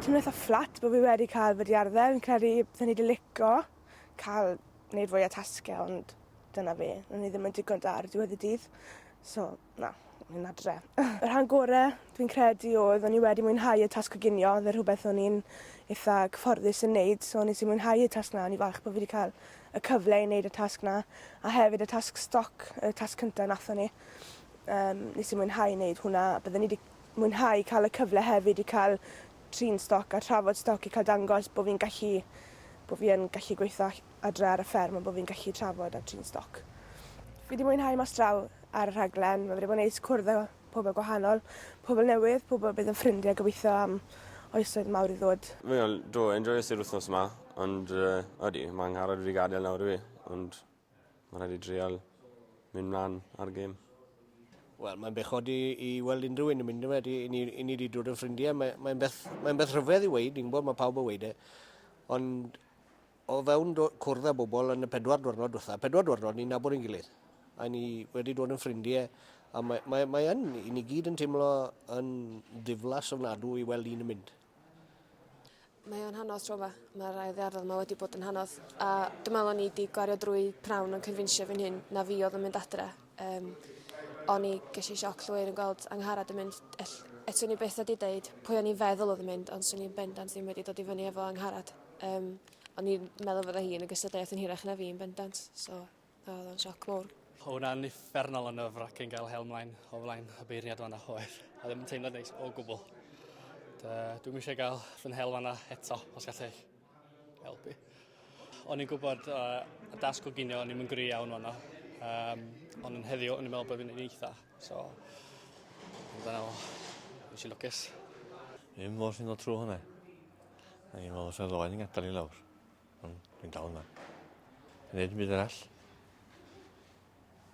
Teimlo itha fflat bo' fi wedi ca'l wedi arddel fi'n credu byddwn i 'di lico ca'l neud fwy o tasge ond dyna fi. O'n i ddim yn digon da ar diwedd y dydd so na fi'n adre. Y rhan gore dwi'n credu odd o'n i wedi mwynhau y tasg coginio odd e rhwbeth o'n i'n itha cyfforddus yn neud so nes i mwynhau y tasg 'na o'n i falch bo' fi 'di ca'l y cyfle i neud y tasg 'na a hefyd y tasg stoc y tasg cynta nathon ni. Yym, nes i mwynhau wneud hwnna. Bydden ni 'di mwynhau cael y cyfle hefyd i cael trin stoc a trafod stoc i cael dangos bod fi'n gallu bod fi yn gallu gweithio adre ar y fferm a bod fi'n gallu trafod a trin stoc. Fi 'di mwynhau mas draw ar y rhaglen. Mae wedi bod yn neis cwrdd â pobl gwahanol, pobl newydd, pobl bydd yn ffrindiau gobeithio am oesoedd mawr i ddod. Wel, do, enjoyes i'r wythnos 'ma, ond uh, odi, mae angharad wedi gadael nawr i fi, ond Ma' raid fi drial myn' mlan ar gem. Wel mae'n bechod i i weld unrhyw un yn mynd yfe ydi 'yn ni 'yn ni 'di dod yn ffrindie mae mae'n beth mae'n beth rhyfedd i weud ni'n gwbod ma' pawb yn weud e ond o fewn do- cwrdd â bobol yn y pedwar dwrnod dwetha pedwar dwrnod ni'n nabod ein gilydd a ni wedi dod yn ffrindie a mae mae mae yn i ni gyd yn teimlo yn ddiflas ofnadw i weld un yn mynd. Mae o'n hanodd tro yma. Mae rhai ddearddol yma wedi bod yn hanodd. A dwi'n meddwl o'n i wedi gwario drwy prawn yn cynfinsio fy hun na fi oedd yn mynd adre. Um, o'n i ges i sioc llwyr yn gweld Angharad yn mynd. Ell, et swn i beth wedi deud pwy o'n i'n feddwl oedd yn mynd, ond swn i'n bendant ddim wedi dod i fyny efo Angharad. Um, o'n i'n meddwl fydda hi yn y gystadleuaeth yn hirach na fi yn bendant. So, A oedd o'n sioc mowr. Oedd hwnna'n uffernol o nerve-wracking gael hel mlaen o flaen y beirniad fanna oedd. A ddim yn teimlo neis o gwbl. Dwi'n eisiau gael fy nhel fanna eto, os gallai helpu. O'n i'n gwybod uh, y dasg o ginio, o'n i'n gri iawn fanna. Um, ond yn heddiw, o'n i'n meddwl bod fi'n ei eitha. So, dyna o, nes i lwcus. Ddim mor sy'n dod trwy hwnna. O'n i'n meddwl sef ddoen yn gadael i lawr. Ond dwi'n dal yma. Yn neud yn byd arall.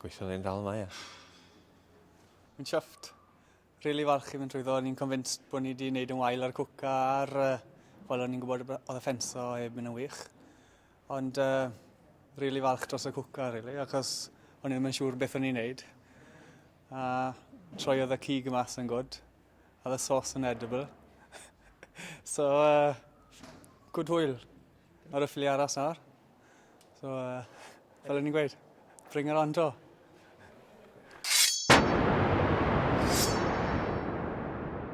Gweithio yn dal yma, ia. Yn siafft. Really falch i fynd trwy ddo. Ni'n convinced bod ni wedi gwneud yn wael ar cwca ar... Uh, Wel, o'n i'n gwybod oedd y ffenso heb mynd yn wych. Ond uh, really falch dros y cwca, really, achos o'n i'n ddim yn siŵr beth o'n i'n gwneud. A troiodd y cig mas yn gwrdd. Oedd y sos yn edible. so, uh, good hwyl. Ar y ffili aras nawr. So, uh, fel o'n i'n gweud, bring it on to.